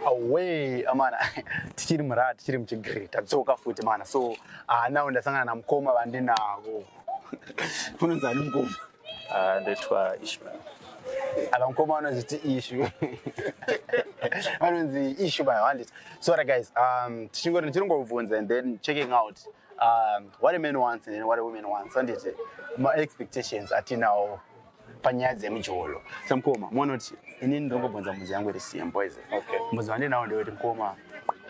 away amana tichiri murad tichiri muchigre tadzoka futi mana so ah, now ndasangana namukoma vandinavo unonzi ani mukoma Ah, ndoitwa ishmael apa mukoma anonzi ti ishu anonzi ishu by handit so right guys um, tichingoti tichinongobvunza and then checking out um, what a man wants and what a woman wants anditi maexpectations atinawo panyaya dzemujolo samukoma monoti ini ndongobvunza mudzi yangu iri same boys okay. mudzi wandinawo ndeweti mukoma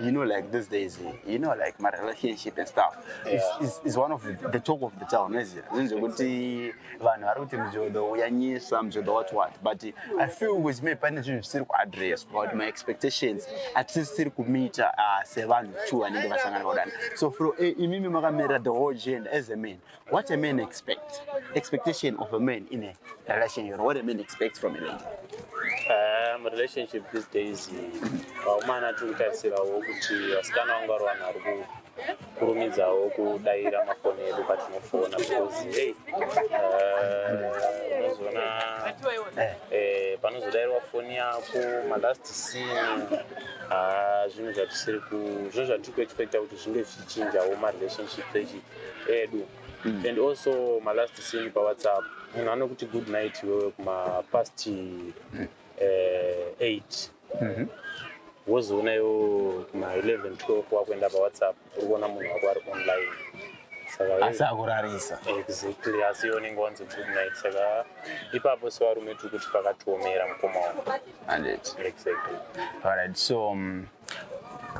you know like these days you know like my relationship and stuff yeah. is, is, is one of the, the talk of the town is it zvinhu zvekuti vanhu vari kuti mjodo uyanyisa mjodo what what but i feel with me pane zvinhu zvisiri kuaddress about my expectations atisisiri kumita uh, sevanhu two vanenge vasangana kudana so fro eh, imimi makamirira the whole gender as a man what a man expect expectation of a man in a relationship what a man expects from a lady um, relationship these days vaumana tiri kutarisirawo kuti vasikana vangu vari vanhu vari ku kurumidzawo kudaira mafoni edu patinofona because hey, uh, unozoona eh, panozodairwa foni yako malast scene ah, zvinhu zvatisiri ku zvinhu zvatiri kuexpecta kuti zvinge zvichinjawo marelationships echi edu mm. and also malast scene pawhatsapp munhu anokuti good night iwewe kumapast mm. eh, eight mhm. wozoona yo ma 11 12 wakuenda pawhatsapp uri kuona munhu wako ari online asi akurarisa exactly asi iwe unenge wanzi good night saka ipapo sevarume tiri kuti pakatiomera mukoma wavo exactly alright so um,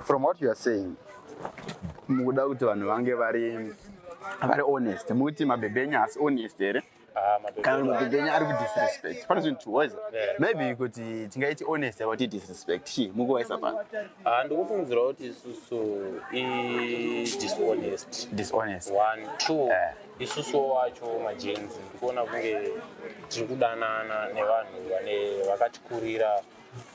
from what you are saying mukuda kuti vanhu vange vari vari honest mukuti mabhebhe enyu asi honest here Ah, kana mabhebhi enyu ari kudisrespect pane zvinhu tuwaisa maybe kuti tingaiti honest about disrespect chii mukuwaisa pano ah, ndikufungidzira kuti isusu idishonest dishonest one two eh. isusu wacho majenzi ndikuona kunge tiri kudanana nevanhu vane vakatikurira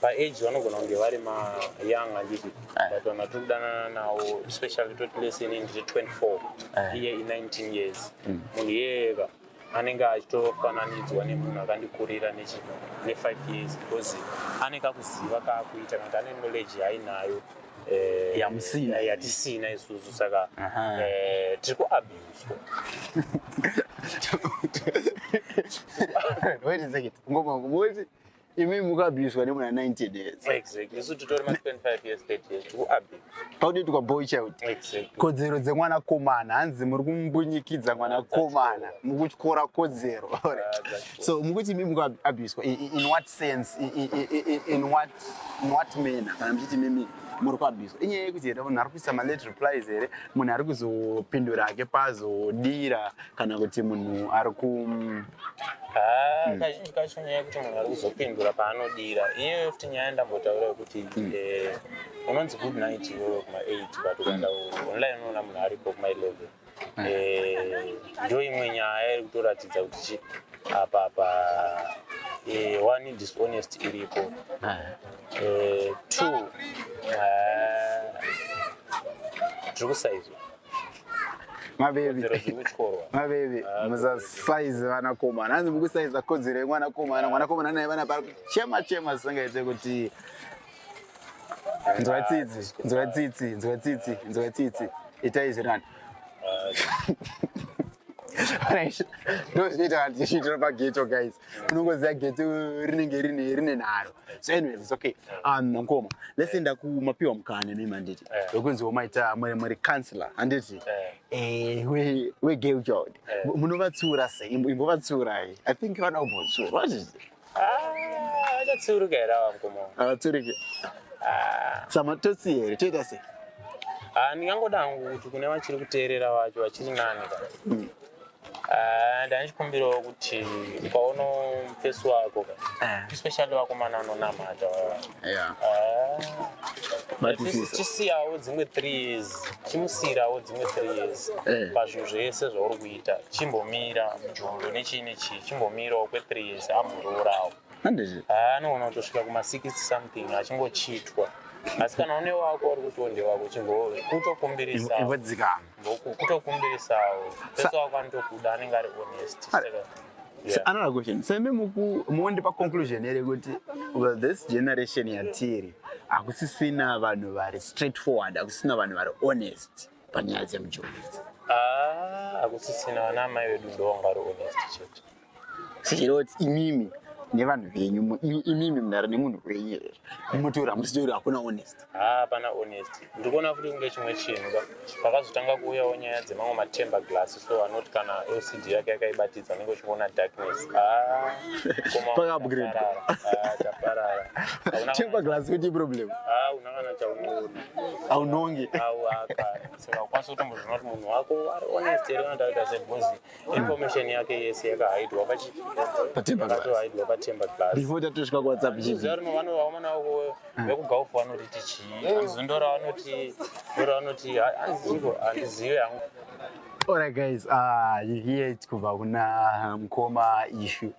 paage vanogona kunge vari mayoung handiti eh. but vanhu vatiri kudanana nawo especially toti lese inini ndiri 24 eh. iye i19 years mm. munhu iyeyeka anenge achitofananidzwa nemunhu akandikurira ne5 years because ane kakuziva kaakuita kanti ane knowledge yainayo eh, yamusina yatisina isusu saka tiri kuabuswa wait a second ngoma ngomoti imi mukabuswa nemuna 19 years exactly isu titori ma 25 years 30 years tikuabuse pakutoitwa boy child exactly kodzero dzemwana komana hanzi muri kumbunyikidza mwana komana mukutyora kodzero so mukuti imi mukuabuswa in what sense in what in what manner kana muchiti mimi muri kuabuswa inyaya yekuti here munhu ari kuisa malate replies here munhu ari kuzopindura ake pazodira kana kuti munhu ari ku Ah, mm. kazhinji kacho nyaya yekuti munhu ari kuzopindura paanodira iyoyo futi nyaya ndambotaura yekuti mm. eh, unonzi good night iyoyo kuma eight but ukaenda mm. online unoona munhu aripo kuma eleven eh, ndo imwe nyaya iri kutoratidza kuti chi apa pa eh, one dishonest iripo ah. two ah, tiri kusaizwa mabebi mabebi ah, musasaize vanakomana hanzi mukusaiza kodzero yemwanakomana mwanakomana naye vana pari chema chema zisingaite kuti nzwa tsitsi nzwa tsitsi nzwa tsitsi nzwa tsitsi itai zvirinani ah, ndozvinoita kuti zviitira pageto guys unongoziva gate rinenge rine rine nharo so anyways it's okay um mkoma let's enda kumapiwa mukana nemi handiti wekunzi womaita muri muri counselor handiti eh we we gay child munovatsura sei imbovatsurai i think vana kumbotsura what is it ah achatsuruka here ava mkoma avatsurike ah. samatotsi here toita sei ah ndingangoda hangu kuti kune vachiri kuteerera vacho vachiri nani ka hmm. Ah, ndandichikumbirawo kuti ukaono mufesi wako ka Eh. especially wakomana anonamata Yeah. Matisisa. chisiyawo dzimwe three years chimusiyirawo dzimwe three years Eh. pazvinhu zvese zvauri kuita chimbomira mujolo nechii nechii chimbomirawo kwe three years ambororawo Handizvo. Ah, anoona kutosvika kuma 60 something achingochitwa asi kana une wako uri kuti onde wako chingove kutokumbirisa Ivo dzikama. kutokumbirisawo pesa wako anotokuda anenge ari honest It's yeah. another question so imi muonde paconclusion here kuti well, this generation yatiri hakusisina vanhu vari straight forward hakusisina vanhu vari honest panyaya dzemujoni idzi ah, hakusisina vana amai vedu ndovanga vari honest chete Sechiroti imimi nevanhu venyu mu- i- imimi munhare nemunhu wenyu here munotaura hamusitauri hakuna honest hapana honest ndiri kuona futi kunge chimwe chinhu ka pakazotanga kuuyawo nyaya dzemamwe matemba glass so anoti kana lcd yake yakaibatidza unenge uchiona darkness Ah, koma Paka-upgrade. taparara. Ah, taparara Hauna temper kana- glass kuti problem Ah, una kana chaunoona haunonge au akana saka ukwanisa kutombozvona kuti munhu wako ari honest here unotaurika sebhozi information yake yese yakahaidwa pachi patemba yakatohaidwa patemba class before tatosvika ku whatsapp chii zero no vano vaoma nawo ko vekugaufu eh. vanoti tichi anzi ndora vanoti ndora vanoti hanzi chiko handizive yangu Alright guys, uh, you hear it kubva kuna mkoma issue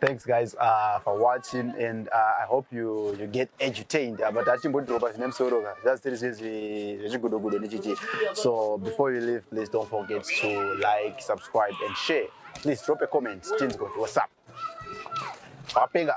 Thanks guys uh, for watching and uh, I hope you, you get edutained uh, but hatimbodhiropa zvine musoro ka just tiri zvechigudogudo nechichi so before you leave please don't forget to like subscribe and share please drop a comment tinzwe kuti whatsapp wapenga